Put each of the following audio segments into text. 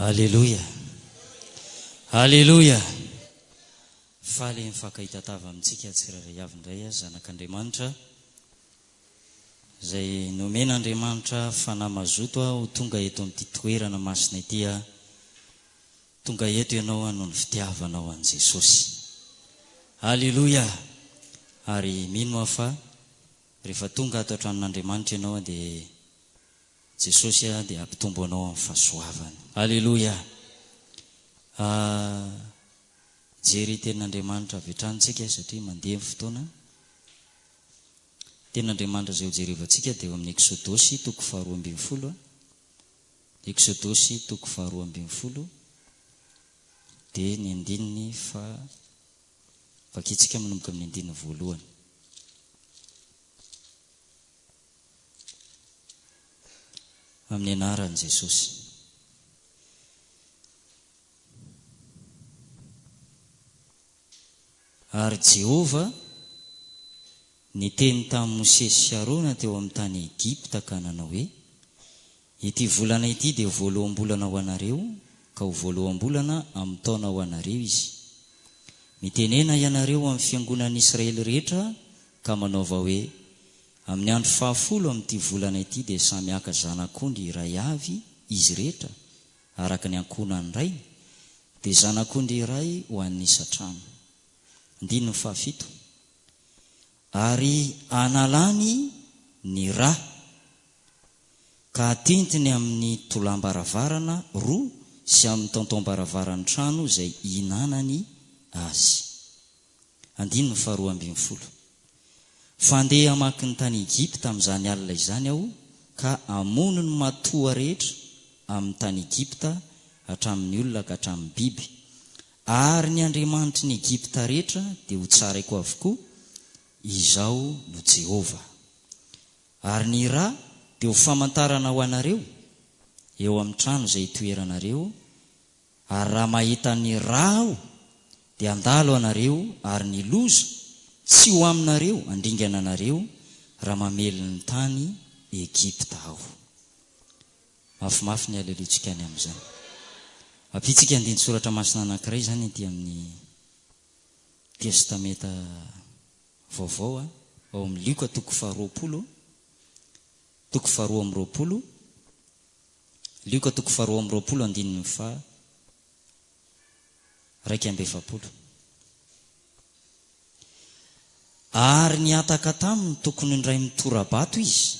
Aleloia! Aleloia! Faly mifankahita tava amintsika tsirairay avy indray zanak'Andriamanitra, izay nomen'Andriamanitra fanahy mazoto ho tonga eto amin'ity toerana masina ity. Tonga eto ianao noho ny fitiavanao an'i Jesosy. Aleloia! Ary mino aho fa rehefa tonga ato an-tranon'Andriamanitra ianao dia Jesosy aho dia hampitombo anao amin'ny fahasoavany. Aleloia! Aah! Hijery Tenin'Andriamanitra avy hatrany isika satria mandeha ny fotoana. Tenin'Andriamanitra izay hojerevantsika dia ao amin'ny Eksodosy toko faharoa ambin'ny folo. Eksodosy toko faharoa ambin'ny folo dia ny andininy faha, vakintsika manomboka amin'ny andininy voalohany. Amin'ny anaran'i Jesosy. Ary Jehovah niteny tamin'i Mosesy sy Arona teo amin'ny tany Egypta ka nanao hoe, Ity volana ity dia voaloham-bolana ho anareo, ka ho voaloham-bolana amin'ny taona ho anareo izy. Mitenena ianareo amin'ny fiangonan'ny Israely rehetra ka manaova hoe, Amin'ny andro fahafolo amin'ity volana ity dia samy haka zanak'ondry iray avy izy rehetra, araka ny ankohonan'ny rainy, dia zanak'ondry iray ho an'ny isan-trano. Andininy fahafito. Ary hanalany ny ra. ka atentiny amin'ny tolàm-baravarana roa sy amin'ny taontaom-baravaran'ny trano izay ihinanany azy. Andininy faharoa ambin'ny folo. Fa handeha hamaky ny tany Egypta amin'izany alina izany aho, ka hamono ny matoa rehetra amin'ny tany Egypta, hatramin'ny olona ka hatramin'ny biby, ary ny andriamanitry ny Egypta rehetra dia hotsaraiko avokoa. Izaho no Jehovah. Ary ny ra dia ho famantarana ho anareo eo amin'ny trano izay hitoeranareo, ary raha mahita ny ra Aho, dia handalo anareo, ary ny loza tsy ho aminareo handringana anareo raha mamely ny tany Egypta Aho. Mafimafy ny haleloantsika any amin'izany. Ampiantsika andinin-tsoratra masina anankiray izany ety amin'ny Testamenta Vaovao ao amin'ny Lioka toko faharoapolo toko faharoa amby roapolo Lioka toko faharoa amby roapolo andininy faha raika amby efapolo Ary nihataka taminy tokony indray mitora-bato izy,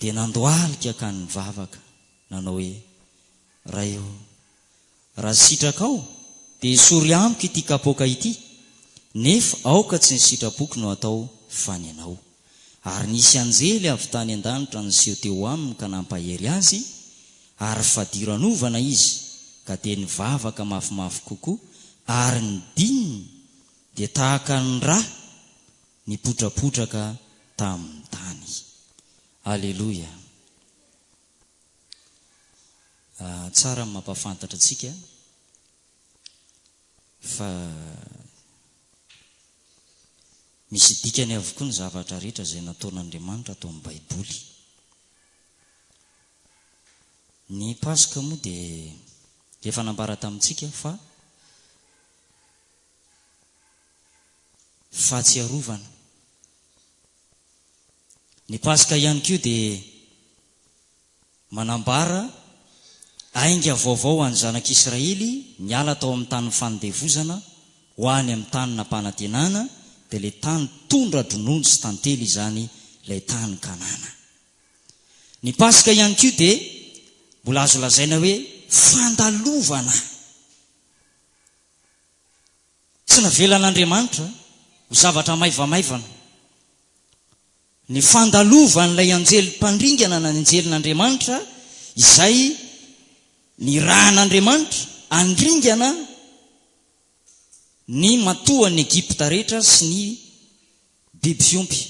Dia nandohalika ka nivavaka, nanao hoe, Ray ô, raha sitrakao, dia esory amiko ity kapoaka ity, nefa aoka tsy ny sitrapoko no atao, fa ny Anao. Ary nisy anjely avy tany an-danitra niseho teo aminy ka nampahery azy, ary fadiranovana izy, ka dia nivavaka mafimafy kokoa, ary ny dininy dia tahaka ny rà nipotrapotraka tamin'ny tany. Aleloia! Ah, tsara ny mampahafantatra antsika fa misy dikany avokoa ny zavatra rehetra izay nataon'Andriamanitra ato amin'ny Baiboly. Ny Paska moa dia efa nambara tamintsika fa fahatsiarovana. Ny Paska ihany koa dia manambara ainga vaovao ho an'ny zanak'Israely niala tao amin'ny tanin'ny fanindevozana ho any amin'ny tany nampanantenana, dia ilay tany tondra-dronono sy tantely izany, ilay tany Kanana. Ny Paska ihany koa dia mbola azo lazaina hoe fandalovana. Tsy navelan'Andriamanitra ho zavatra maivamaivana ny fandalovan'ilay anjely mpandringana na ny anjelin'Andriamanitra izay nirahan'Andriamanitra handringana ny matoan'i Egypta rehetra sy ny Biby fiompy.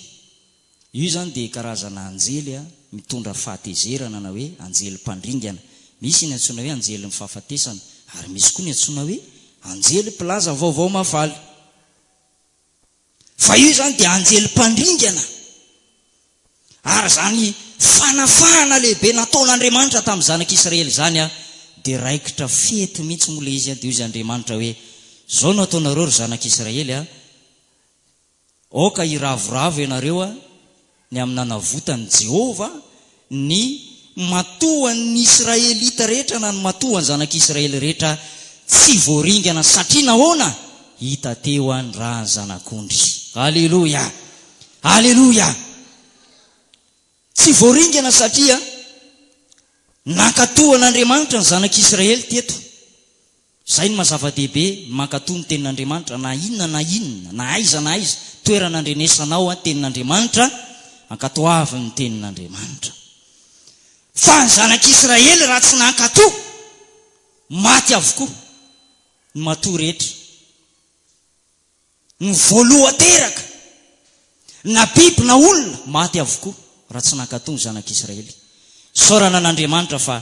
Io izany dia karazana anjely mitondra fahatezerana na hoe anjely mpandringana. Misy ny antsoina hoe anjelin'ny fahafatesana ary misy koa ny antsoina hoe anjely mpilaza vaovao mahafaly. Fa io izany dia anjely mpandringana. Ary izany fanafahana lehibe nataon'Andriamanitra tamin'ny zanak'Israely izany dia raikitra fety mihitsy moa ilay izy dia hoy Andriamanitra hoe, Izao no hataonareo ry zanak'Israely, Aoka hiravoravo ianareo ny amin'ny nanavotan'i Jehovah ny matoan'ny Israelita rehetra, na ny matoan'ny zanak'Israely rehetra tsy voaringana. Satria nahoana? Hita teo ny ran'ny Zanak'ondry. Aleloia! Aleloia! Tsy voaringana satria nankatoa an'Andriamanitra ny zanak'Israely teto. Izay no maha-zava-dehibe ny mankatò ny Tenin'Andriamanitra, na inona na inona, na aiza na aiza, toerana andrenesanao an, Tenin'Andriamanitra, ankatoavy ny Tenin'Andriamanitra. Fa ny Zanak'Israely raha tsy nankatò, maty avokoa ny matoa rehetra, ny voalohan-teraka, na biby na olona, maty avokoa raha tsy nankatò ny Zanak'Israely. Isaorana an'Andriamanitra fa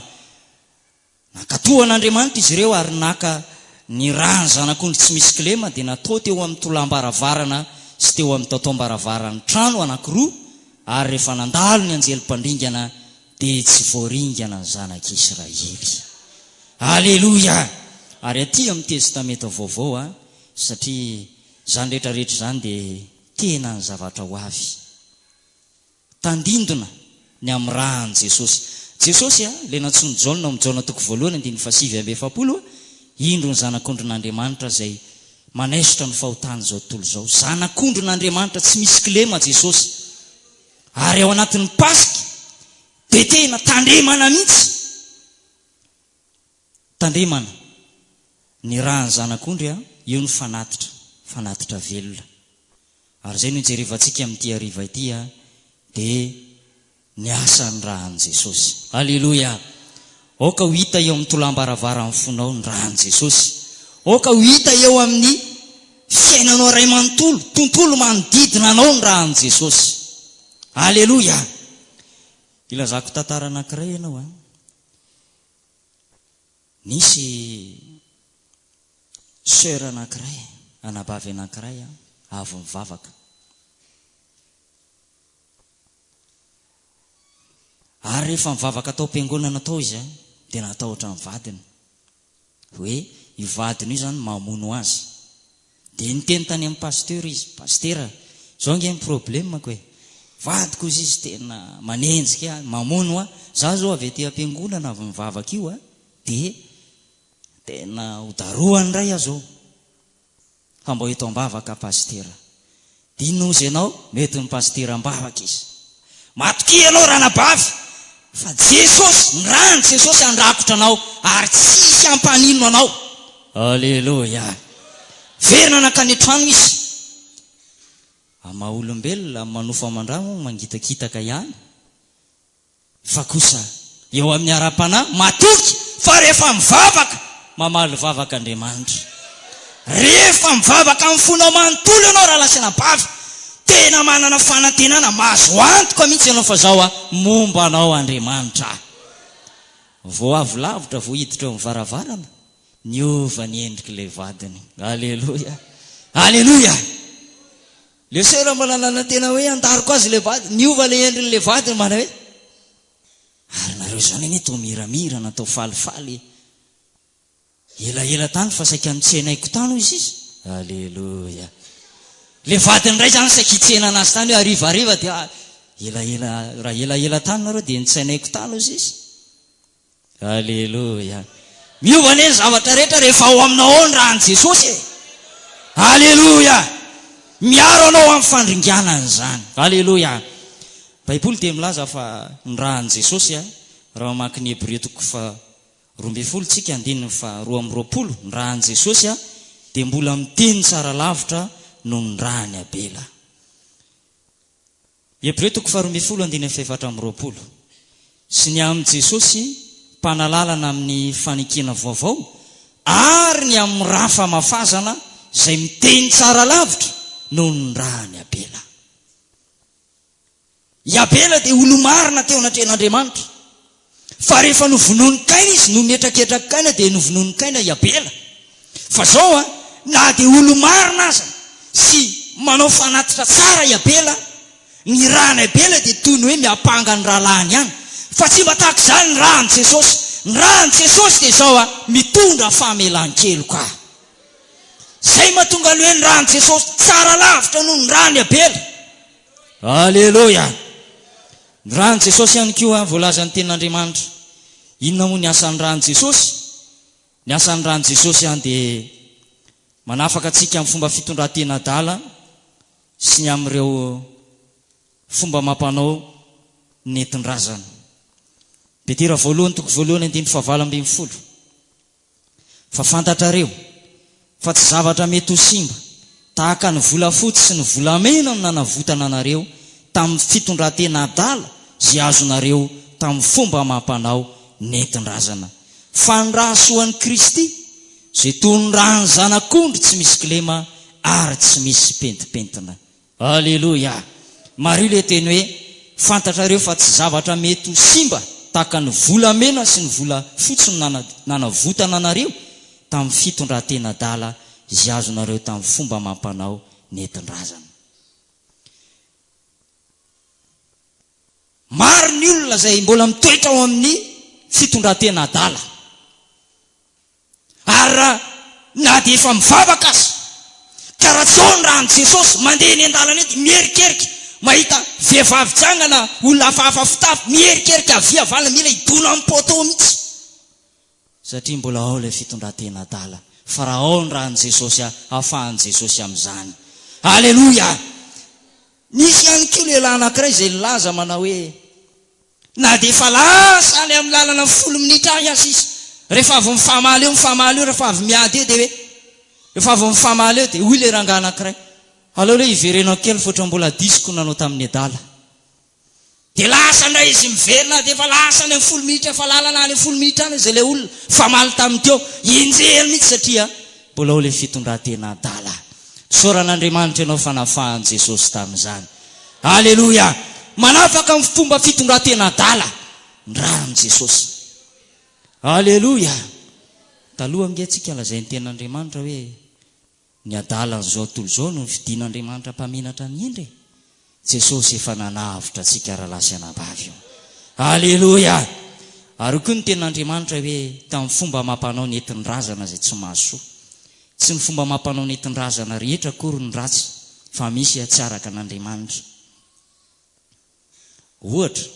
Nankatò an' Andriamanitra izy ireo ary naka ny ra ny zanak'ondry tsy misy kilema dia natao teo amin'ny tolàm-baravarana sy teo amin'ny taotaom-baravaran'ny trano anankiroa ary rehefa nandalo ny anjely mpandringana dia tsy voaringana ny zanak'i Israely. Aleloia! Ary aty amin'ny Testamenta Vaovao an, satria izany rehetra rehetra izany dia tena ny zavatra ho avy. Tandindona ny amirahan'i Jesosy. Jesosy, ilay nantsoin'i Jaona ao amin'ny Jaona toko voalohany andininy fahasivy amby efapolo hoe, Indro ny Zanak'ondrin'Andriamanitra izay manaisotra ny fahotan'izao tontolo izao. Zanak'ondrin'Andriamanitra tsy misy kilema Jesosy. Ary ao anatin'ny Paska dia tena tandremana mihitsy. Tandremana! Ny rà ny zanak'ondry a! Eo ny fanatitra, fanatitra velona. Ary izay no ijerevantsika amin'ity hariva ity a! Dia ny asan'ny rà an'i Jesosy. Aleloia! Aoka ho hita eo amin'ny tolàm-baravaran'ny fonao ny rà an'i Jesosy. Aoka ho hita eo amin'ny fiainanao iray manontolo, tontolo manodidina anao ny rà an'i Jesosy. Aleloia! Hilazako tantara anankiray ianao a! Nisy soeur anankiray, anabavy anankiray avy nivavaka. Ary rehefa nivavaka tao am-piangonana tao izy dia natahotra ny vadiny hoe io vadiny io izany mamono azy. Dia niteny tany amin'ny pasteur izy, Pasitera, izao ange ny problemako e! Vadiko hozy izy tena manenjika ahy, mamono ahy, izaho izao avy aty am-piangonana avy nivavaka io a! dia tena hodarohany indray aho izao, fa mba ho eto am-bavaka aho Pasitera. Inona ozy ianao mety ny pasitera ambavaka izy. Matokia ianao ranabavy fa Jesosy, ny rany Jesosy handrakotra anao ary tsy hisy hampaninona anao. Aleloia. Miverina nankany an-trano izy. Amin'ny maha olombelona, amin'ny manofa aman-drà moa mangitakitaka ihany. fa kosa eo amin'ny ara-panahy matoky fa rehefa mivavaka, mamaly vavaka Andriamanitra. Rehefa mivavaka amin'ny fonao manontolo ianao rahalahy sy anabavy, tena manana fanantenana mahazo antoka mihitsy ianao fa izao an, momba anao Andriamanitra. Vao avy lavitra vao hiditra eo amin'ny varavarana, niova ny endrik'ilay vadiny. Aleloia! Aleloia! Le soeur mbola nanantena hoe handariko azy le vady, niova le endriny le vady mbana hoe ary nareo zany anie toa miramira natao falifaly elaela tany fa saika notsenaiko tany hoy sisa, aleloia, le vadiny ndray zany saika hitsena anazy tany hoe harivariva dia elaela, raha elaela tany nareo dia nitsenaiko tany hoy sisa, Aleloia! Miova anie ny zavatra rehetra rehefa ao aminao ao ny ran'i Jesosy e! Aleloia! Miaro anao amin'ny fandringanany izany. Aleloia! Baiboly dia milaza fa ny ran'i Jesosy a, raha mamaky ny Hebreo toko faharoa ambin'ny folo isika andininy faharoa amby roapolo, ny ran'i Jesosy a, dia mbola miteny tsara lavitra noho ny ran'i Abela. Hebreo toko faharoa ambin'ny folo andininy fahefatra amby roapolo Sy ny amin'i Jesosy Mpanalalana amin'ny fanekena vaovao ary ny amin'ny ra famafazana izay miteny tsara lavitra noho ny ran'i Abela. I Abela dia olo-marina teo anatrehan'Andriamanitra. Fa rehefa novonoin'i Kaina izy no nihetraketrak'i Kaina dia novonoin'i Kaina i Abela. Fa zao an, na dia olo-marina aza sy manao fanatitra tsara i Abela, ny ran'i Abela dia toy ny hoe miampanga ny rahalahiny ihany. Fa tsy mba tahaka izany ny ran'i Jesosy. Ny ran'i Jesosy dia izao an, mitondra famelan-keloka. Izay mahatonga ny hoe ny ran'i Jesosy tsara lavitra noho ny ran'i Abela. Aleloia. Ny ran'i Jesosy ihany koa voalazan'ny tenin'Andriamanitra. Inona moa ny asan'ny ran'i Jesosy? Ny asan'ny ran'i Jesosy dia manafaka antsika amin'ny fomba fitondran-tena adala sy ny amin'ireo fomba amam-panao nentin-drazana. Petera voalohany toko voalohany andininy fahavalo ambin'ny folo. Fa fantatrareo fa tsy zavatra mety ho simba, tahaka ny volafotsy sy ny volamena no nanavotana anareo tamin'ny fitondran-tena adala izay azonareo tamin'ny fomba amam-panao nentin-drazana, fa ny rahasoan'i Kristy izay toy ny ràn'ny zanak'ondry tsy misy kilema ary tsy misy pentimpentina. Aleloia! Marina ilay teny hoe, Fantatrareo fa tsy zavatra mety ho simba tahaka ny volamena sy ny volafotsy no nanavotana anareo tamin'ny fitondran-tena adala izay azonareo tamin'ny fomba amam-panao nentin-drazana. Maro ny olona izay mbola mitoetra ao amin'ny fitondran-tena adala. Ary raha na dia efa mivavaka aza, ka raha tsy ao ny ran'i Jesosy, mandeha eny an-dalana eny dia miherikerika mahita vehivavy janga na olona hafahafa fitafy, miherikerika havia havanana, mila hidona amin'ny poteau mihitsy, satria mbola ao ilay fitondran-tena adala, fa raha ao ny ran'i Jesosy, afahan'i Jesosy amin'izany. Aleloia! Nisy ihany koa lehilahy anankiray izay nilaza manao hoe, Na dia efa lasa any amin'ny lalana ny folo minitra any aza izy, rehefa avy mifamaly eo mifamaly eo, rehefa avy miady eo dia hoe, rehefa avy mifamaly eo dia hoy ilay rangahy anankiray, aleo aloha hiverenako kely fa ohatran'ny mbola diso ko nanao tamin'ny adala. Dia lasa indray izy miverina, na dia efa lasa any amin'ny folo minitra, efa lalana any amin'ny folo minitra any aza ilay olona mifamaly tamin'ny teo, enjehiny mihitsy satria Mbola ao ilay fitondratena adala. Isaorana Andriamanitra ianao fa nafahan'i Jesosy tamin'izany. Aleloia! Manafaka amin'ny fomba fitondratena adala ny ran'i Jesosy. Aleloia! Taloha ange tsika lazain'ny tenin'Andriamanitra hoe, ny adalan'izao tontolo izao no ny fidian'Andriamanitra mpaminatra ny hendry e. Jesosy efa nanavotra antsika rahalahy sy anabavy o! Aleloia! Ary koa ny tenin'Andriamanitra hoe tamin'ny fomba amam-panao nentin-drazana izay tsy mahasoa. Tsy ny fomba amam-panao nentin-drazana rehetra akory no ratsy fa misy tsy araka an'Andriamanitra. Ohatra,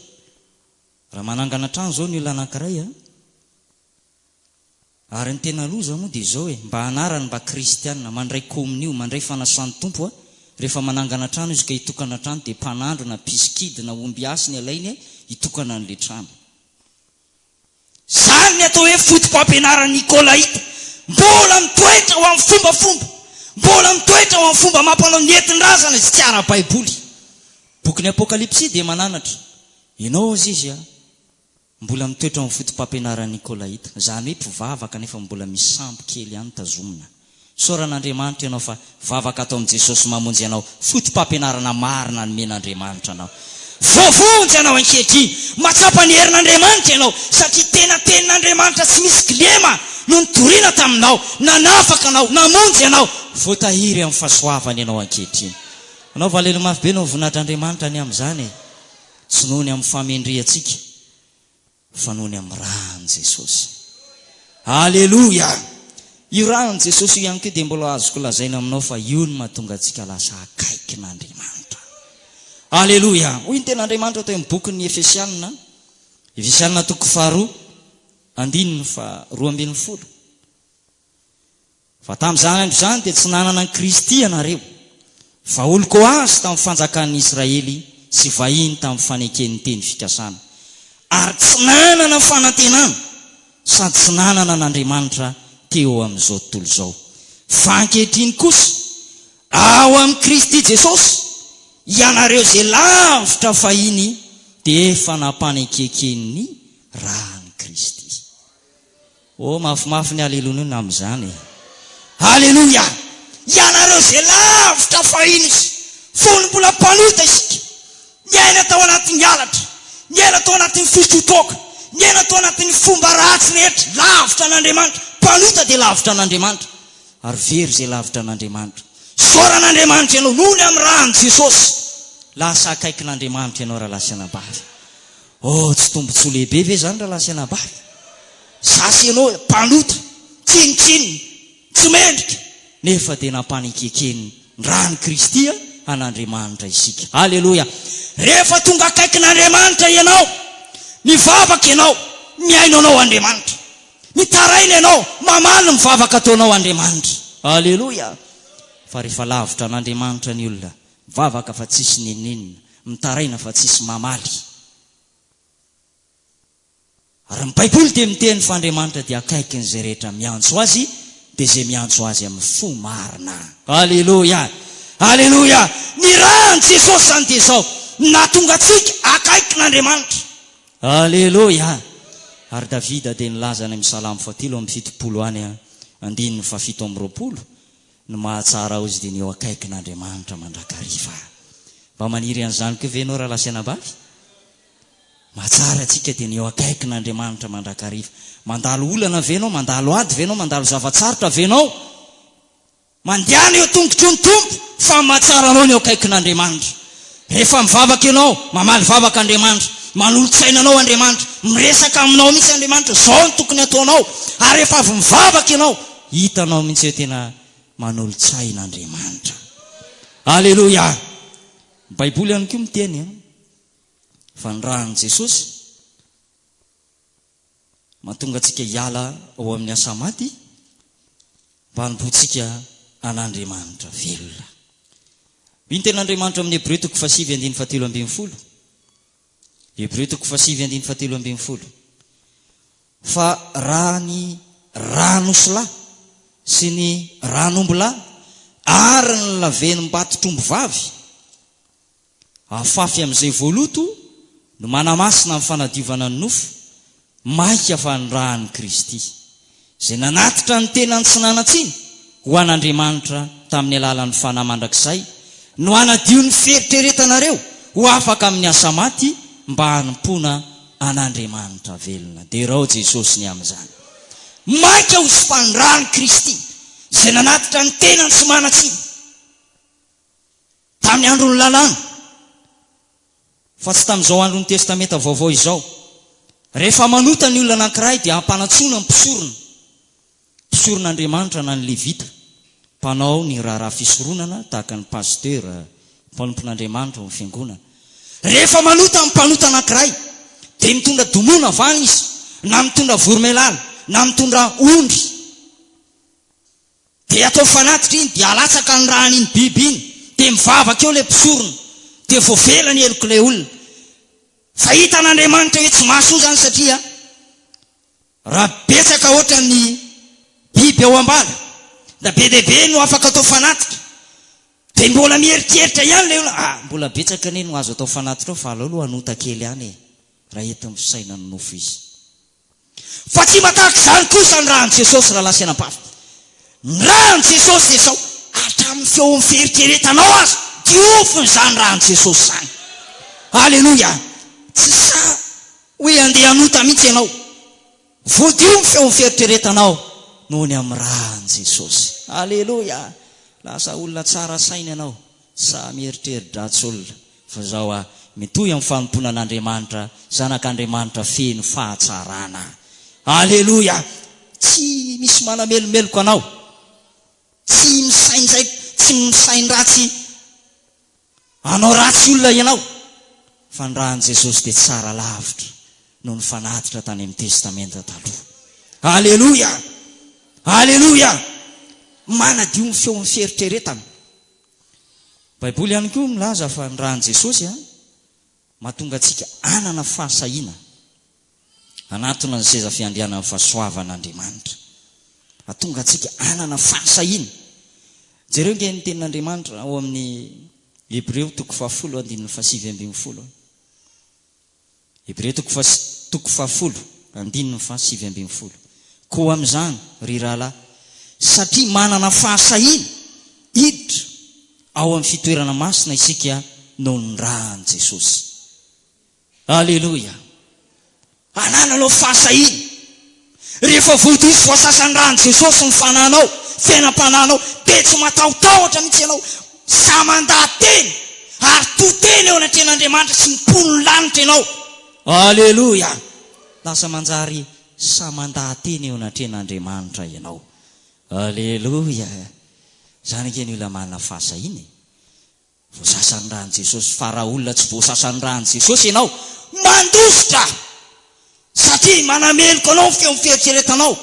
raha manangana trano izao ny olona anankiray a! Ary ny tena loza moa dia izao e, mba anarany mba kristiana, mandray komonio, mandray fanasan'ny Tompo a, rehefa manangana trano izy ka hitokana trano dia mpanandro na mpisikidy na omby hasy ny alainy hitokana an'ilay trano. Izany ny atao hoe fotopampianaran'ny Nikolaita, mbola mitoetra ho amin'ny fombafomba, mbola mitoetra ho amin'ny fomba amam-panao nentin-drazana izay tsy ara-baiboly. Bokin'ny Apokalypsy dia mananatra, Ianao, Azizy a! Mbola mitoetra ao amin'ny fotopampianaran'ny Nikolaita, izany hoe mpivavaka nefa mbola misy sambo kely ihany tazomina. Isaoran'Andriamanitra ianao fa vavaka ato amin'i Jesosy Mamonjy anao, fotopampianarana marina nomen'Andriamanitra anao. Voavonjy ianao ankehitriny, mahatsapa ny herin'Andriamanitra ianao, satria tena tenin'Andriamanitra tsy misy kilema no nitoriana taminao, nanafaka anao, namonjy anao. Voatahiry amin'ny fahasoavany ianao ankehitriny. Anao valely mafy be no voninahitr' Andriamanitra ny amin'izany e! Tsy noho ny amin'ny fahamendrehantsika fa noho ny amin'ny ran'i Jesosy. Aleloia! Io ran'i Jesosy io ihany koa dia mbola azoko lazaina aminao fa io no mahatonga antsika lasa akaikin'Andriamanitra. Aleloia! Hoy ny ten'Andriamanitra teo amin'ny bokin'ny Efesianina, Efesianina toko faharoa, andininy faha roa ambin'ny folo. Fa tamin'izany andro izany dia tsy nanana an'i Kristy ianareo, fa olon-koazy tamin'ny fanjakan'ny Israely sy vahiny tamin'ny faneken'ny teny fikasana, ary tsy nanana fanantenana sady tsy nanana an'Andriamanitra teo amin'izao tontolo izao. Fa ankehitriny kosa, ao amin'i Kristy Jesosy, ianareo izay lavitra fahiny dia efa nampanekeken' ny ran'i Kristy. Oh mafimafy ny Alelonia ny amin'izany e! Aleloia! Ianareo izay lavitra fahiny izy fony mbola mpanota isika, niaina tao anatin'ny halatra, niaina tao anatin'ny fitrotroka, niaina tao anatin'ny fomba ratsy rehetra, lavitra an'Andriamanitra, mpanota dia lavitra an'Andriamanitra, ary very izay lavitra an'Andriamanitra. Isaoran'Andriamanitra ianao noho ny amin'ny ran'i Jesosy, lasa akaikin'Andriamanitra ianao rahalahy sy anabavy. Oh, tsy tombontsoa lehibe ve izany rahalahy sy anabavy? Za sy ianao mpanota, tsinontsinona, tsy mendrika, nefa dia nampanekeken ny ran'i Kristy an'Andriamanitra isika. Aleloia! Rehefa tonga akaikin'Andriamanitra ianao, mivavaka ianao, mihaino anao Andriamanitra. Mitaraina ianao, mamaly ny vavaka ataonao Andriamanitra. Aleloia! Fa rehefa lavitra an'Andriamanitra ny olona, Mivavaka fa tsisy n'inon'inona. Mitaraina fa tsisy mamaly. Ary ny baiboly dia miteny fa Andriamanitra dia akaikin'izay rehetra miantso Azy dia izay miantso Azy amin'ny fo marina. Aleloia! Aleloia! Ny ran'i Jesosy izany dia izao, ny nahatonga antsika akaikin'Andriamanitra. Aleloia! Ary Davida dia nilaza any amin'ny salamo fahatelo amby fitopolo any andininy fahafito amby roapolo Ny mahatsara aozy dia ny eo akaikin Andriamanitra mandrakariva. Mba maniry an'izany koa ve ianao rahalahy sy anabavy? Mahatsara antsika dia ny eo akaikin Andriamanitra mandrakariva. Mandalo olana ve ianao? Mandalo ady ve ianao? Mandalo zava-tsarotra ve ianao? Mandehana eo tongotro ny Tompo fa mahatsara anao ny eo akaikin Andriamanitra. Rehefa mivavaka ianao, mamaly vavaka Andriamanitra, manolo-tsaina anao Andriamanitra, miresaka aminao mihitsy Andriamanitra, izao no tokony hataonao, ary rehefa avy mivavaka ianao, hitanao mihitsy hoe tena manolo-tsaina Andriamanitra. Aleloia! Ny Baiboly ihany koa miteny fa ny ràn'i Jesosy, mahatonga antsika hiala ao amin'ny asa maty mba hanompoantsika an'Andriamanitra velona. Hoy ny Tenin'Andriamanitra amin'ny Hebreo toko fahasivy andininy fahatelo ambin'ny folo, Hebreo toko fahasivy andininy fahatelo ambin'ny folo, fa raha ny ranosilahy sy ny ranombilahy ary ny lavenimbato trombo vavy, Afafy amin'izay voaloto no manamasina ny fanadiovana ny nofo, maika fa ny ran'i Kristy, izay nanatitra ny tenany tsy nanan-tsiny ho an'Andriamanitra tamin'ny alalan'ny Fanahy Mandrakizay, no hanadio ny fieritreretanareo ho afaka amin'ny asa maty mba hanompoana an'Andriamanitra velona. Derao Jesosy ny amin'izany. Maika ho sopan'ny ran'i Kristy, izay nanatitra ny tenany tsy manan-tsiny. tamin'ny andron'ny Lalàna, fa tsy tamin'izao andron'ny Testamenta Vaovao izao. Rehefa manota ny olona anankiray, dia ampanantsoina ny mpisorona, mpisoron'Andriamanitra na ny Levita, mpanao ny raharaha fisoronana, tahaka ny pasitera, mpanompon'Andriamanitra ao amin'ny fiangonana. Rehefa manota ny mpanota anankiray, dia mitondra domona vany izy, na mitondra voromailala, na mitondra ondry. Dia ataovy fanatitra iny dia alatsaka ny rany iny biby iny dia mivavaka eo ilay mpisorona dia voavela ny helok'ilay olona fa hitan Andriamanitra hoe tsy mahasoa izany satria raha betsaka hoatra ny biby ao ambala da be dia be no afaka atao fanatitra dia mbola mieritreritra ihany ilay olona ah mbola betsaka anie no azo atao fanatitra ao fa aleo aloha hanota kely any e raha ety amin'ny fisainan'ny nofo izy Fa tsy mba tahaka izany kosa ny ran'i Jesosy, rahalahy sy anabavy. Ny ran'i Jesosy dia sao hatramin'ny feon'ny fieritreretanao aza, diovina izany ran'i Jesosy izany. Aleloia! Tsy sahy hoe handeha hanota mihitsy ianao. Voadio ny feon'ny fieritreretanao noho ny amin'ny ran'i Jesosy. Aleloia! Lasa olona tsara saina ianao. Samy eritreri-dratsy olona fa izao aho, mitohy amin'ny fanompoana an'Andriamanitra, zanak'Andriamanitra feno fahatsarana. Aleloia! Tsy misy manamelomeloka anao. Tsy misaindraiky, tsy misain-dratsy hanao ratsy olona ianao. Fa ny ran'i Jesosy dia tsara lavitra noho ny fanatitra tany amin'ny Testamenta Taloha. Aleloia! Aleloia! Manadio ny feon'ny fieritreretana. Baiboly ihany koa milaza fa ny ran'i Jesosy mahatonga antsika hanana fahasahiana hanatona ny seza fiandrianan'ny fahasoavan'Andriamanitra. Hahatonga antsika hanana fahasahiana. Jereo ange ny tenin'Andriamanitra ao amin'ny Hebreo toko fahafolo andininy fahasivy ambin'ny folo. Hebreo toko fa toko fahafolo andininy faha sivy ambin'ny folo Koa amin'izany, ry rahalahy, satria manana fahasahiana hiditra ao amin'ny fitoerana masina isika noho ny ran'i Jesosy. Aleloia! Anananao fahasahiana Rehefa voadiso voasasa ny ran'i Jesosy ny fananao, fiainam-pananao, dia tsy matahotahotra mihitsy ianao. Sahy mandaha-teny ary to tena eo anatrehan'Andriamanitra sy ny mponin'ny lanitra ianao. Aleloia! Lasa manjary sahy mandaha-teny eo anatrehan'Andriamanitra ianao. Aleloia! Izany ange ny olona manana fahasahiana e! Voasasa ny ran'i Jesosy fa raha olona tsy voasasa ny ran'i Jesosy ianao, mandositra! Satria manameloka anao ny feon'ny fieritreretanao.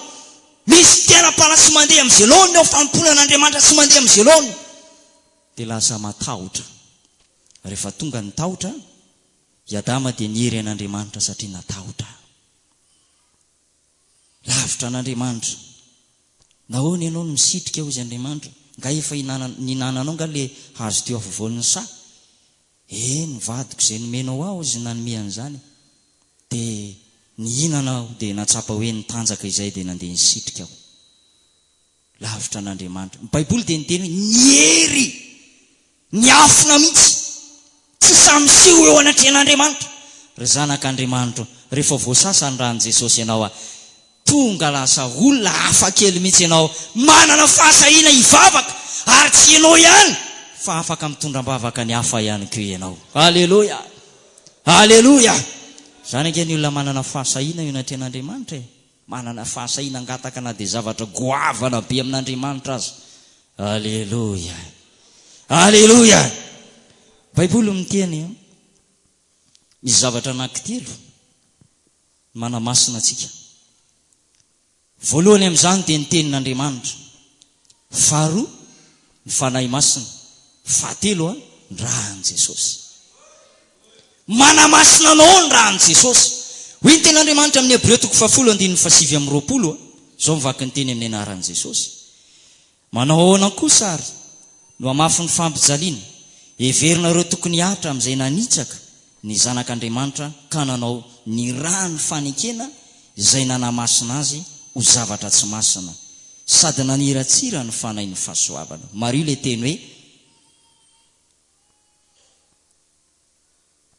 Misy fiainam-panahy tsy mandeha amin'izay laoniny ao, fanompoana an'Andriamanitra tsy mandeha amin'izay laoniny. Dia lasa matahotra. Rehefa tonga ny tahotra, i Adama dia niery an'Andriamanitra satria natahotra. Lavitra an'Andriamanitra. Nahoana ianao no misitrika hozy Andriamanitra? Nga efa ninananao nga le hazo teo afovoan'ny saha? Ee ny vadiko izay nomenao aho hozy nanome an'izany. De nihinana aho de natsapa hoe nitanjaka izay de nandeha nisitrika aho. Lavitra an'Andriamanitra. Ny Baiboly dia niteny hoe ny hery niafina mihitsy tsy sahy miseho eo anatrehan'Andriamanitra. Ry zanak'Andriamanitro, rehefa voasasa ny ran'i Jesosy ianao, tonga lasa olona hafa kely mihitsy ianao, manana fahasahiana hivavaka, ary tsy ianao ihany fa afaka mitondra am-bavaka ny hafa ihany koa ianao. Aleloia! Aleloia! Izany ange ny olona manana fahasahiana eo anatrehan'Andriamanitra e! Manana fahasahiana hangataka na dia zavatra goavana be amin'Andriamanitra aza. Aleloia! Aleloia! Baiboly miteny hoe misy zavatra anankitelo manamasina antsika. Voalohany amin'izany dia ny Tenin'Andriamanitra. Faharoa, ny Fanahy Masina. Fahatelo, ny ran'i Jesosy. Manamasina anao ny ran'i Jesosy. Hoy ny Tenin'Andriamanitra amin'ny Hebreo toko fahafolo andininy fahasivy amby roapolo, izao ny vaky ny teny amin'ny anaran'i Jesosy, Manao ahoana kosa àry no hamafy ny fampijaliana? Heverina ireo tokony hihatra amin'izay nanitsaka ny Zanak'Andriamanitra ka nanao ny ràn'ny fanekena izay nanamasina azy ho zavatra tsy masina sady naniratsira ny Fanahin'ny fahasoavana. Mariho ilay teny hoe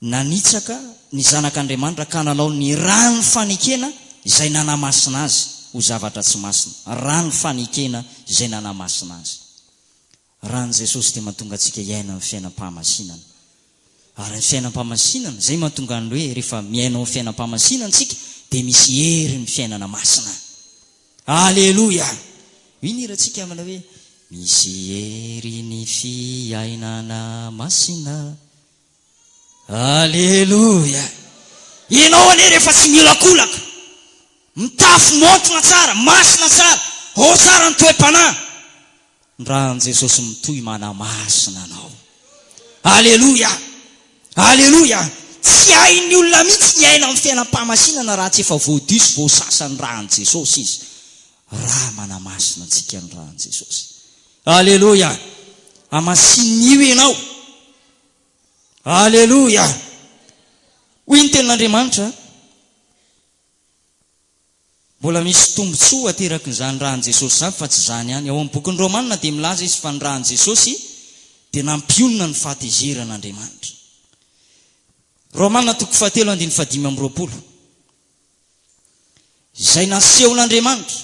Nanitsaka ny Zanak' Andriamanitra ka nanao ny rano fanekena izay nanamasina azy ho zavatra tsy masina. Rano fanekena izay nanamasina azy. Ran' i Jesosy dia mahatonga antsika hiaina ny fiainam-pahamasinana. Ary ny fiainam-pahamasinana, izay mahatonga an' ny hoe rehefa miaina ao amin'ny fiainam-pahamasinana isika dia misy hery ny fiainana masina. Aleloia! Hoy ny hirantsika manao hoe, Misy hery ny fiainana masina. Aleloia! Ianao anie rehefa tsy miolakolaka, mitafy maontina tsara, masina tsara, ao tsara ny toe-panahy, Ny ran'i Jesosy mitohy manamasina anao. Aleloia! Aleloia! Tsy hain'ny olona mihitsy ny hiaina amin'ny fiainam-pahamasinana raha tsy efa voadio sy voasasa ny ran'i Jesosy izy. Ra manamasina antsika ny ran'i Jesosy. Aleloia! Hamasinio ianao. Aleloia! Hoy ny tenin'Andriamanitra, Mbola misy tombontsoa aterakin'izany ràn'i Jesosy izany, fa tsy izany ihany. Ao amin'ny bokin'ny Romana dia milaza izy fa ny ràn'i Jesosy dia nampionona ny fahatezeran'Andriamanitra. Romana toko fahatelo andininy fahadimy amby roapolo. Izay nasehon'Andriamanitra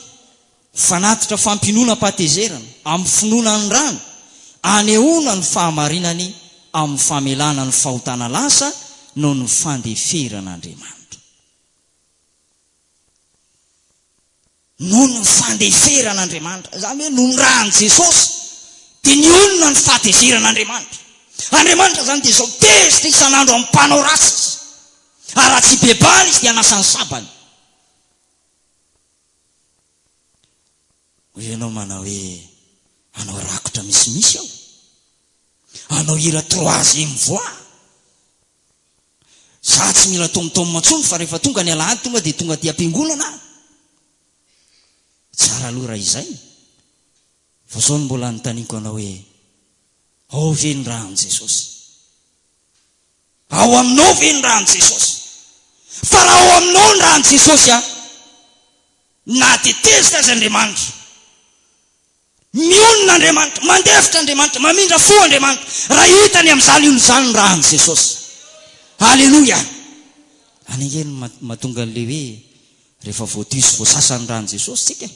ho fanatitra fampiononam-pahatezerana amin'ny finoana ny ràny, anehoana ny fahamarinany amin'ny famelana ny fahotana lasa noho ny fandeferan'Andriamanitra. Noho ny fandeferan'Andriamanitra, izany hoe noho ny ran'i Jesosy, dia nionona ny fahatezeran'Andriamanitra. Andriamanitra izany dia izao, tezitra isan'andro amin'ny mpanao ratsy Izy. Ary raha tsy hibebahana Izy dia hanasa ny sabany. Hoy ianao manao hoe, hanao rakotra misimisy aho? Hanao hira troisième voix? Za tsy mila tom tom intsony fa rehefa tonga ny alahady tonga dia tonga aty am-piangonana aho. Tsara aloha raha izay. Fa zao no mbola anontaniako anao hoe, ao ve ny ran'i Jesosy? Ao aminao ve ny ran'i Jesosy? Fa raha ao aminao ny ran'i Jesosy an, nahatetezitra azy Andriamanitra. Mionona Andriamanitra, mandefitra Andriamanitra, mamindra fo Andriamanitra, raha hitany amin'izany olona izany ny ran'i Jesosy. Aleloia! Any ange no mahatonga an'ilay hoe rehefa voadio sy voasasa ny ran'i Jesosy isika e!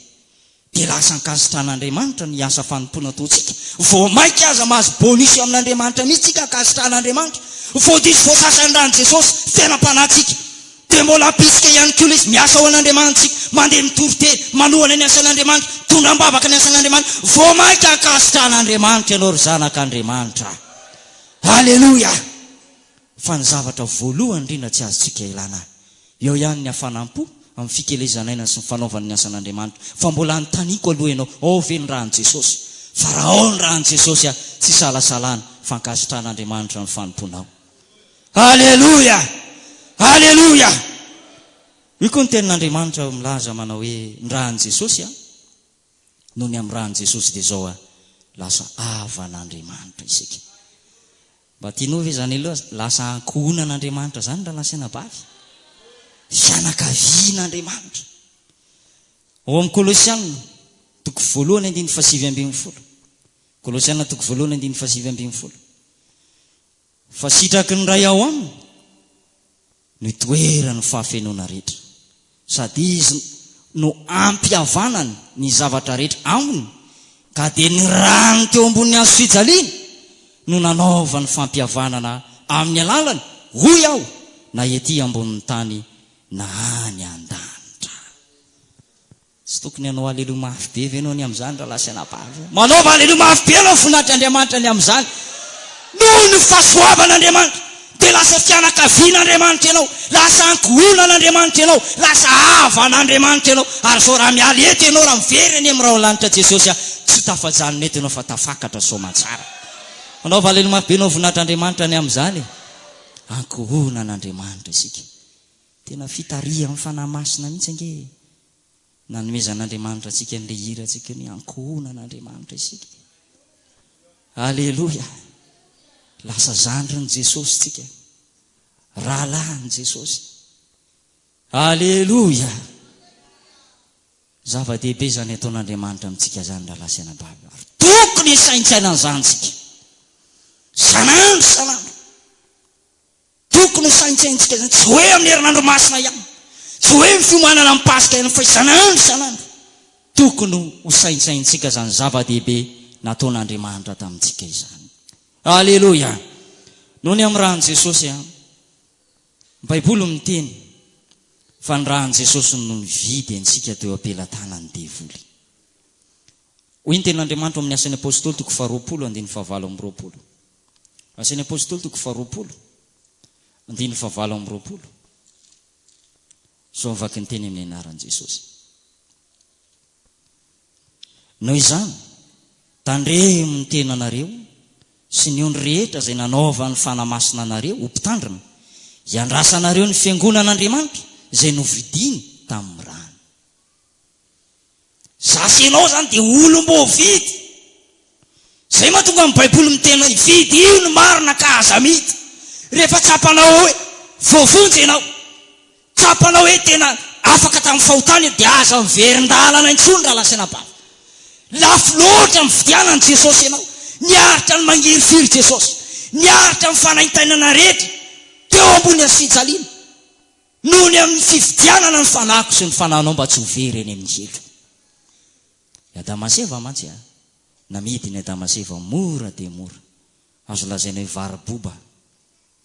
dia lasa ankasitran'Andriamanitra ny asa fanompoana ataontsika. Vao mainka aza mahazo bonus amin'Andriamanitra mihitsy isika ankasitran'Andriamanitra. Voadio sy voasasa ny ran'i Jesosy, fenam-panahintsika. Dia mbola hampirisika ihany koa ilay izy, Miasa ho an'Andriamanitsika, mandeha mitory teny, manohana ny asan'Andriamanitra, mitondra am-bavaka ny asan'Andriamanitra, vao mainka hankasitrahan'Andriamanitra ianao ry zanak'Andriamanitra. Aleloia! Fa ny zavatra voalohany indrindra tsy azontsika ilana, eo ihany ny hafanam-po, amin'ny fikelezan'aina sy ny fanaovana ny asan'Andriamanitra. Fa mbola anontaniako aloha ianao, ao ve ny ran'i Jesosy? Fa raha ao ny ran'i Jesosy, tsy isalasalana fa ankasitrahan'Andriamanitra ny fanompoanao. Aleloia! Aleloia! Io koa ny tenin'Andriamanitra milaza manao hoe ny ran'i Jesosy an, noho ny amin'ny ran'i Jesosy dia izao an, lasa havan'Andriamanitra isika. Mba tianao ve izany aloha lasa ankohonan'Andriamanitra izany raha lasa anabavy? Fianakavian'Andriamanitra. Ao amin'ny Kolosiana toko voalohany andininy fahasivy ambin'ny folo. Kolosiana toko voalohany andininy fahasivy ambin'ny folo. Fa sitraky ny Ray ao aminy no itoeran'ny fahafenoana rehetra, sady Izy no ampihavanany ny zavatra rehetra aminy, ka dia ny rany teo ambonin'ny hazo fijaliana no nanaovany fampihavanana amin'ny alalany, hoy aho, na ety ambonin'ny tany na any an-danitra. Tsy tokony hanao Aleloia mafy be ve ianao ny amin'izany rahalahy sy anabavy? Manaova Aleloia mafy be ianao voninahitry Andriamanitra ny amin'izany. Noho ny fahasoavan'Andriamanitra, dia lasa fianakavian'Andriamanitra ianao, lasa ankohonan'Andriamanitra ianao, lasa havan'Andriamanitra ianao. Ary izao raha miala eto ianao, raha miverina eny amin'ny rahon'ny lanitra Jesosy aho, tsy tafajanona eto ianao fa tafakatra soamantsara. Manaova Aleloia mafy be ianao voninahitry Andriamanitra ny amin'izany e! Ankohonan'Andriamanitra isika. Tena fitarihan'ny Fanahy Masina mihitsy ange e! Nanomezan'Andriamanitra antsika an'ilay hira antsika io ny ankohonan'Andriamanitra isika e! Aleloia! Lasa zandrin'i Jesosy tsika, rahalahin'i Jesosy. Aleloia! Zava-dehibe izany ataon'Andriamanitra amintsika izany rahalahy sy anabavy o! Ary tokony hisaintsaina an'izany isika, isan'andro isan'andro. Tokony ho saintsaintsika izany, tsy hoe amin'ny herinandro masina ihany, tsy hoe ny fiomanana ny Paska ihany fa isan'andro isan'andro. Tokony ho saintsaintsika izany zava-dehibe nataon'Andriamanitra tamintsika izany. Aleloia! Noho ny amin'ny ran'i Jesosy an! Ny Baiboly miteny fa ny ran'i Jesosy no nividy antsika teo am-pelatanan'ny devoly. Hoy ny tenin'Andriamanitra ao amin'ny Asan'ny Apostoly toko faharoapolo andininy fahavalo amby roapolo. Asan'ny Apôstôly toko faharoapolo, andininy fahavalo amby roapolo izao ny vakinteny amin'ny anaran'i Jesôsy. Noho izany, tandremo ny tenanareo sy ny ondry rehetra izay nanaovan'ny Fanahy Masina anareo ho mpitandrina, hiandrasanareo ny fiangonan'Andriamanitra izay novidiny tamin'ny rany. Za sy ianao izany dia olom-boafidy. Izay mahatonga ny Baiboly miteny hoe, Fidio ny marina ka aza amity. Rehefa tsapanao hoe voavonjy ianao, tsapanao hoe tena afaka tamin'ny fahotana ianao, dia aza miverin-dalana intsony raha lazaina bava. Lafo loatra ny fividianan'i Jesosy ianao. Niaritra ny mangirifiry Jesosy. Niaritra ny fanaintainana rehetra teo ambony hazofijaliana. Noho ny amin'ny fividianana ny fanahiko sy ny fanahinao mba tsy ho very eny amin'ny helo. I Adama sy Eva mantsy a! Namidin'i Adama sy Eva mora dia mora. Azo lazaina hoe varo-boba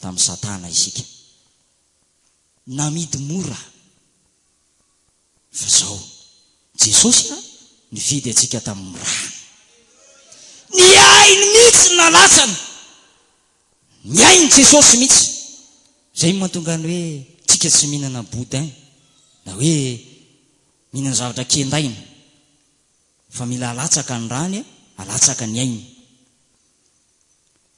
tamin'i Satana isika. Namidy mora. Fa izao, Jesosy a, nifidy antsika tamin'ny rany. Ny ainy mihitsy no nalatsany. Ny ain'i Jesosy mihitsy. Izay no mahatonga ny hoe tsika tsy mihinana boudin na hoe mihinana zavatra kendaina. Fa mila alatsaka ny rany, alatsaka ny ainy.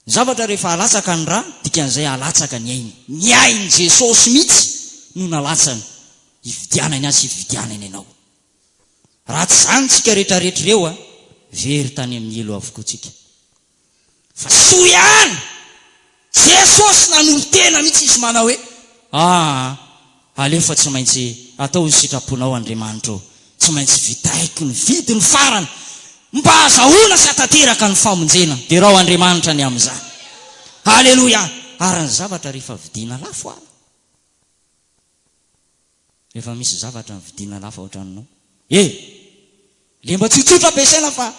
Ny zavatra rehefa alatsaka ny ra, dikan'izay alatsaka ny ainy. Ny ain'i Jesosy mihitsy no nalatsany, hividianany ahy sy hividianany anao. Raha tsy izany tsika retraretra ireo a, very tany amin'ny helo avokoa tsika. Fa soa ihany, Jesosy nanolo-tena mihitsy izy manao hoe, aa, Aleo fa tsy maintsy atao ho sitraponao Andriamanitro ô! Tsy maintsy vitaiko ny vidiny farany mba hazahoana sy hatateraka ny famonjena. Derao Andriamanitra ny amin'izany. Aleloia! Ary ny zavatra rehefa vidiana lafo ary? Rehefa misy zavatra vidiana lafo ao an-tranonao? E! Le mba tsotsotra ampiasaina fa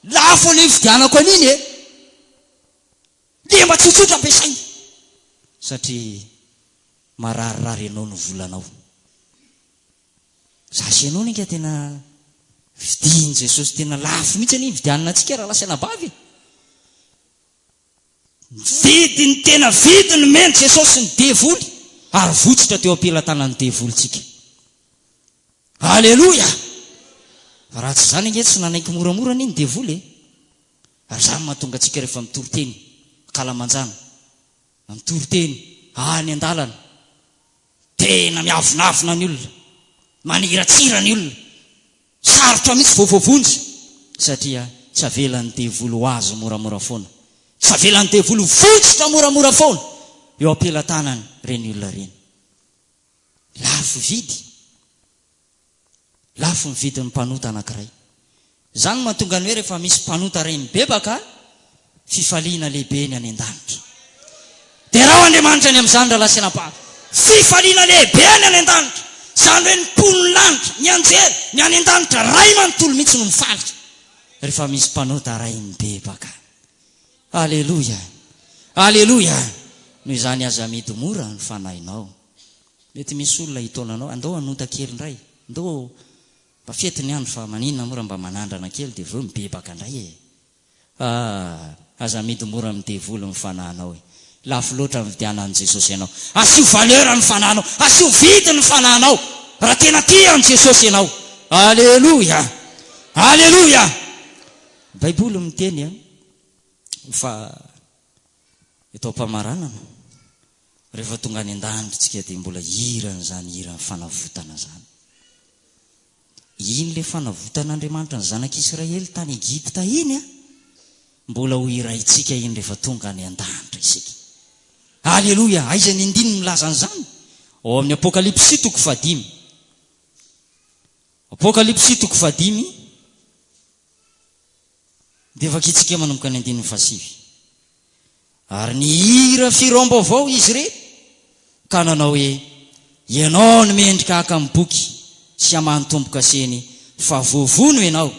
lafo le ividianako an'iny e! Dia mba tsotsotra ampiasaina satria mararirary anao ny volanao. Za sy ianao anie nga tena vidian'i Jesosy tena lafo mihitsy anie ividianana antsika rahalahy sy anabavy e! Nividy ny tena vidy nomen'i Jesosy ny devoly ary votsotra teo am-pelatanan'ny devoly tsika. Aleloia! Raha tsy izany ange tsy nanaiky moramora anie ny devoly e! Ary izany no mahatonga antsika rehefa mitory teny ankalamanjana, na mitory teny any an-dalana, tena miavonavona ny olona, maniratsira ny olona, sarotra mihitsy vao voavonjy, satria tsy avelan'ny devoly ho azo moramora foana, tsy avelan'ny devoly ho vonjitra moramora foana eo am-pelatanany ireny olona ireny. Lafo vidy. Lafo ny vidin'ny mpanota anankiray. Izany no mahatonga ny hoe rehefa misy mpanota iray mibebaka, fifaliana lehibe ny any an-danitra. Derao Andriamanitra ny amin'izany rahalahy sy anabavy. Fifaliana lehibe ny any an-danitra. Izany hoe ny mponin'ny lanitra, ny anjely, ny any an-danitra Ray manontolo mihitsy no mifaly rehefa misy mpanota iray mibebaka. Aleloia! Aleloia! Noho izany aza amidy mora ny fanahinao. Mety misy olona hitaona anao, andao hanonta kely indray, ndao mba fety ny andro fa maninona moa raha mba manandrana kely dia vao eo mibebaka indray e! ah, aza amidy mora amin'ny devoly ny fanahinao e! lafo loatra ny vidianan'i Jesosy anao, asio valeur ny fanahinao, asio vidiny ny fanahinao raha tena tia an'i Jesosy ianao, aleloia! aleloia! Baiboly miteny fa. Eto am-pamaranana, rehefa tonga any an-danitra isika dia mbola hihira an'izany hiran'ny fanavotana izany. Iny ilay fanavotan'Andriamanitra ny zanak'Israely tany Egypta iny, mbola ho hiraintsika iny rehefa tonga any an-danitra isika. Aleloia! Aiza ny andininy milaza an'izany? Ao amin'ny Apokalypsy toko fahadimy. Apokalypsy toko fahadimy. Dia vakintsika manomboka ny andininy fahasivy. Ary nihira firaom-baovao izy re, ka nanao hoe, Ianao no mendrika haka amin'ny boky sy hamaha ny tombo-kaseny, fa voavono Ianao,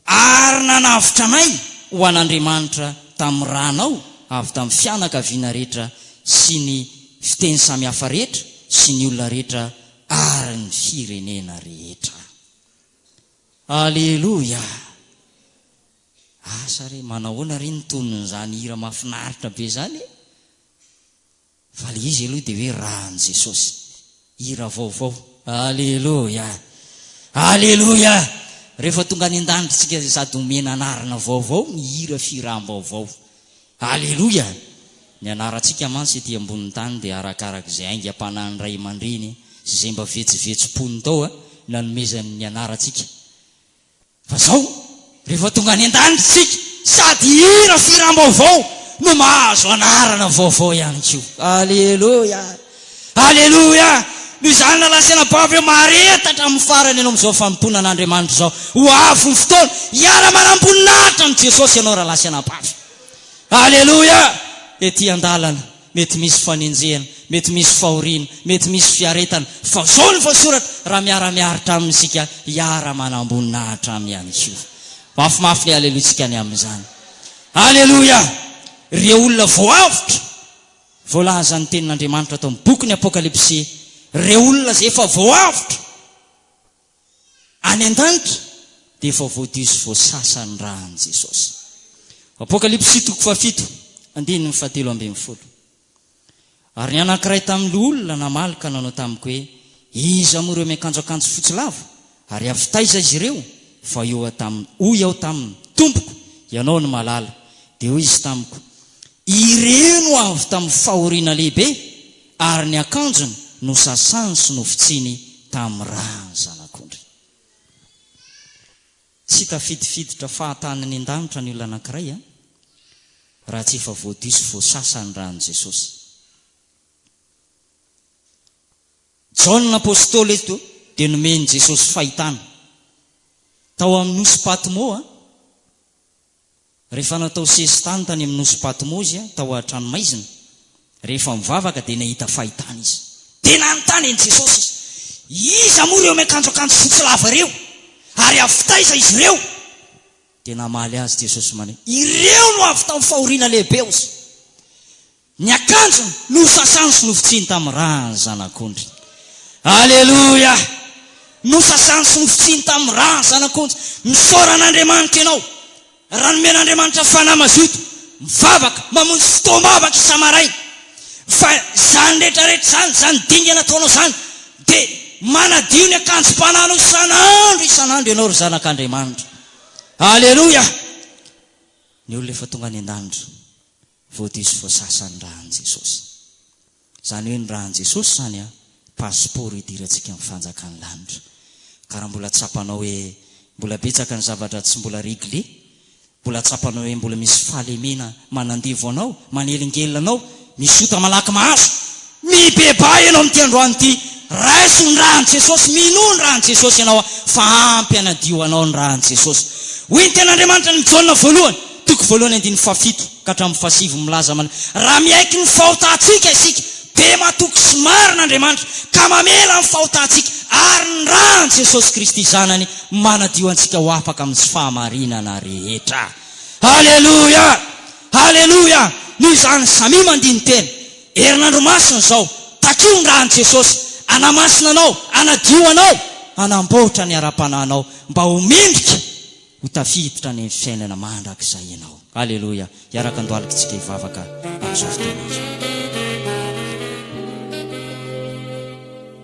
ary nanavotra anay ho an'Andriamanitra tamin'ny ranao avy tamin'ny fianakaviana rehetra sy ny fiteny samihafa rehetra sy ny olona rehetra ary ny firenena rehetra. Aleloia! Asa re, manahoana re ny tonon'izany hira mahafinaritra be izany e? Fa ilay izy aloha dia hoe Ran'i Jesosy. Hira vaovao. Aleloia! Aleloia! Rehefa tonga any an-danitra isika dia sady omena anarana vaovao ny hira fihiràm-baovao. Aleloia! Ny anarantsika mantsy ety ambonin'ny tany dia arakaraka izay aingam-panahin'ny ray aman-dreny sy izay mba vetsovetsom-pony tao nanomezany ny anarantsika. Fa izao, rehefa tonga any an-danitra isika, sady hihira firam-baovao no mahazo anarana vaovao ihany koa. Aleloia! Aleloia! Noho izany, nalasaina babo hoe mahareta hatramin'ny farany ianao amin'izao fanompoana an'Andriamanitra izao. Ho avy ny fotoana hiara-manam-boninahitra amin'i Jesosy ianao raha lasaina babo. Aleloia! Ety an-dalana, mety misy fanenjehana, mety misy fahoriana, mety misy fiaretana, fa izao no voasoratra, Raha miara-miaritra Aminy isika, hiara-manam-boninahitra Aminy ihany koa. Mafimafy ny alelointsika ny amin'izany. Aleloia! Ireo olona voahavotra. Voalazan'ny Tenin'Andriamanitra ato amin'ny bokin'ny Apokalypsy ireo olona izay efa voahavotra any an-danitra dia efa voadio sy voasasa ny ran'i Jesosy. Apokalypsy toko fahafito, andininy fahatelo ambin'ny folo. Ary ny anankiray tamin'ny loholona namaly ka nanao tamiko hoe, Iza moa ireo miakanjo akanjo fotsy lava? Ary avy taiza izy ireo? Fa hoy taminy, hoy aho taminy, Tompoko, Ianao no mahalala. Dia hoy Izy tamiko, Ireo no avy tamin'ny fahoriana lehibe, ary ny akanjony nosasany sy nofotsiny tamin'ny ràn'ny Zanak'ondry. Tsy tafidifiditra fahatany ny an-danitra ny olona anankiray, an, raha tsy efa voadio sy voasasa ny ràn'i Jesosy. Jaona Apostoly eto dia nomen'i Jesosy fahitana. Tao amin'ny nosy Patmo, rehefa natao sesitany tany amin'ny nosy Patmo izy tao an-tranomaizina, rehefa mivavaka dia nahita fahitana izy. Dia nanontany an'i Jesosy izy, Iza moa ireo miakanjo akanjo fotsy lava ireo? Ary avy taiza izy ireo? Dia namaly azy Jesosy manao hoe, Ireo no avy tamin'ny fahoriana lehibe ozy. Ny akanjony nosasany sy nofotsiny tamin'ny ran'ny Zanak'ondry. Aleloia! Nosasany sy nofotsiny tamin'ny ran'ny Zanak'ondry. Misaora an'Andriamanitra ianao raha nomena Andriamanitra fanahy mazoto mivavaka, mamonjy fotoam-bavaka isa-maraina. Fa izany rehetra rehetra izany, izany dingana ataonao izany, dia manadio ny akanjom-panahinao isan'andro isan'andro ianao ry zanak'Andriamanitra. Aleloia! Ny olona efa tonga any an-danitra. Voadiso voasasa ny ran'i Jesosy. Izany hoe ny ran'i Jesosy izany an, passeport hidirantsika amin'ny fanjakan'ny lanitra. Ka raha mbola tsapanao hoe mbola betsaka ny zavatra tsy mbola régler, mbola tsapanao hoe mbola misy fahalemena manandevo anao, manelingelina anao, misy ota malaky mahazo, Mibebaha ianao amin'ity androany ity. Raiso ny ran'i Jesosy, minoa ny ran'i Jesosy ianao fa ampy hanadio anao ny ran'i Jesosy. Hoy ny Tenin'Andriamanitra ny Jaona voalohany, toko voalohany andininy fahafito ka hatramin'ny fahasivy milaza mana, Raha miaiky ny fahotantsika isika, dia matoky sy marina Andriamanitra ka mamela ny fahotantsika, ary ny ran'i Jesosy Kristy Zanany manadio antsika ho afaka amin'ny tsy fahamarinana rehetra. Aleloia! Aleloia! Noho izany, samia mandini-tena. Herinandro masina izao, takio ny ran'i Jesosy, hanamasina anao, hanadio anao, hanamboatra ny ara-panahinao mba ho mendrika ho tafiditra any amin'ny fiainana mandrakizay ianao. Aleloia! Hiaraka andohalika isika hivavaka amin'izao fotoana izao.